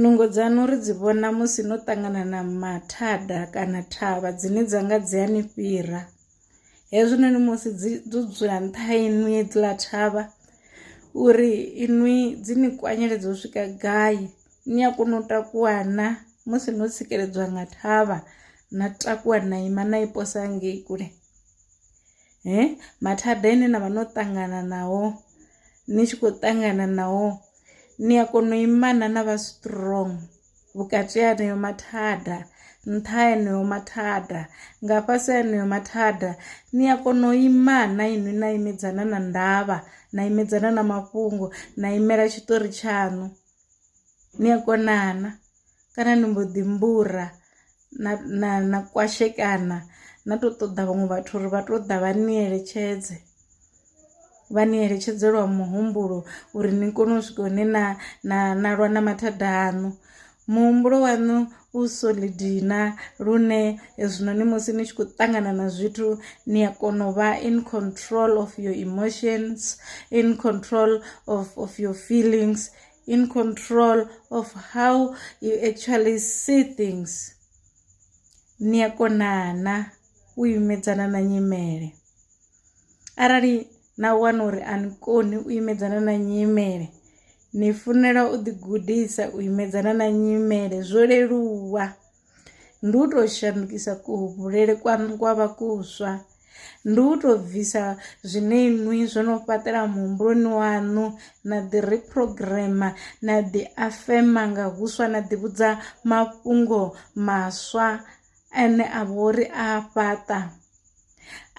Nungo dzaṋu ri dzi vhona musi no ṱangana na mathada kana thavha dzine dza nga dzi a ni fhira hezwinoni musi dzi dzo dzula nṱha ha inwi hedziḽa thavha uri inwi dzi ni kwanyeledza u swika gai ni a kona u takuwa na musi no tsikeledzwa nga thavha na takuwa na ima na i posa hangei kule. he mathada ine na vha no ṱangana naho ni tshi khou ṱangana naho ni a kona u imana na vha strong vhukati ha aneyo mathada nṱha eneo mathada nga fhasi eneo mathada ni a kona u imana inwi na imedzana na ndavha na imedzana na mafhungo na imela tshiṱori tshaṋu ni a konana. kana ni mbo ḓi mbura na na na kwashekana na to ṱoḓa vhaṅwe vhathu uri vha to ḓa vha ni eletshedze vha ni eletshedze lwa muhumbulo uri ni kone u swika hune na na na lwa na mathada aṋu muhumbulo waṋu u solid na lune hezwino ni musi ni tshi khou ṱangana na zwithu ni a kona u vha in control of your emotions in control of of your feelings in control of how you actually see things ni a konana u imedzana na nyimele arali na wana uri a ni koni u imedzana na nyimele ni funela u ḓigudisa u imedzana na nyimele zwo leluwa. ndi u tou shandukisa kuvhulele kwaṋu kwa vha kuswa ndi u tou bvisa zwine inwi zwo no fhaṱela muhumbuloni waṋu na ḓi ri phurogirema na ḓi afema nga huswa na ḓi vhudza mafhungo maswa ane a vha uri a fhaṱa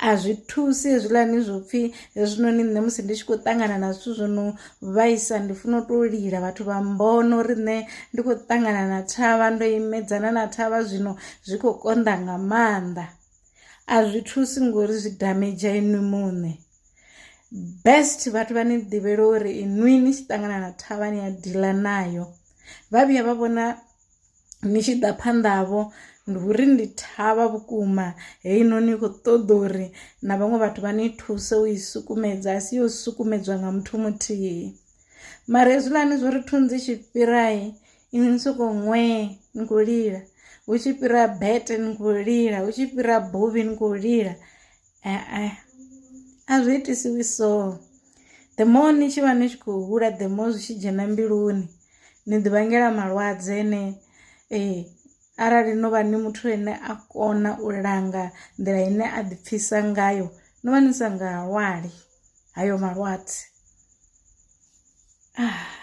a zwi thusi hezwiḽani zwo pfhi hezwinoni nṋe musi ndi tshi khou ṱangana na zwithu zwo no vhaisa ndi funa u tou lila vhathu vha mbono uri nṋe ndi khou ṱangana na thavha ndo imedzana na thavha zwino zwi khou konḓa nga maanḓa a zwi thusi ngori zwi damage inwi muṋe best vhathu vha ni ḓivhela uri inwi ni tshi ṱangana na thavha ni a dealer nayo vha vhuya vha vhona ni tshi ḓa phanḓa havho ndi uri ndi thavha vhukuma heinoni i khou ṱoḓa uri na vhaṅwe vhathu vha ni thuse u i sukumedza a si yo sukumedzwa nga muthu muthihi mara hezwiḽani zwo ri thunzi tshi fhirai ini ni sokou ṅwee ni khou lila hu tshi fhira bete ni khou lila hu tshi fhira bovhi ni khou lila e-e a zwi itisiwi so the more ni tshi vha ni tshi khou hula the more zwi tshi dzhena mbiluni ni ḓi vhangela malwadze ane ee arali no vha ni muthu ane a kona u langa nḓila ine a ḓi pfhisa ngayo no vha ni sa nga lwali hayo malwadze ah.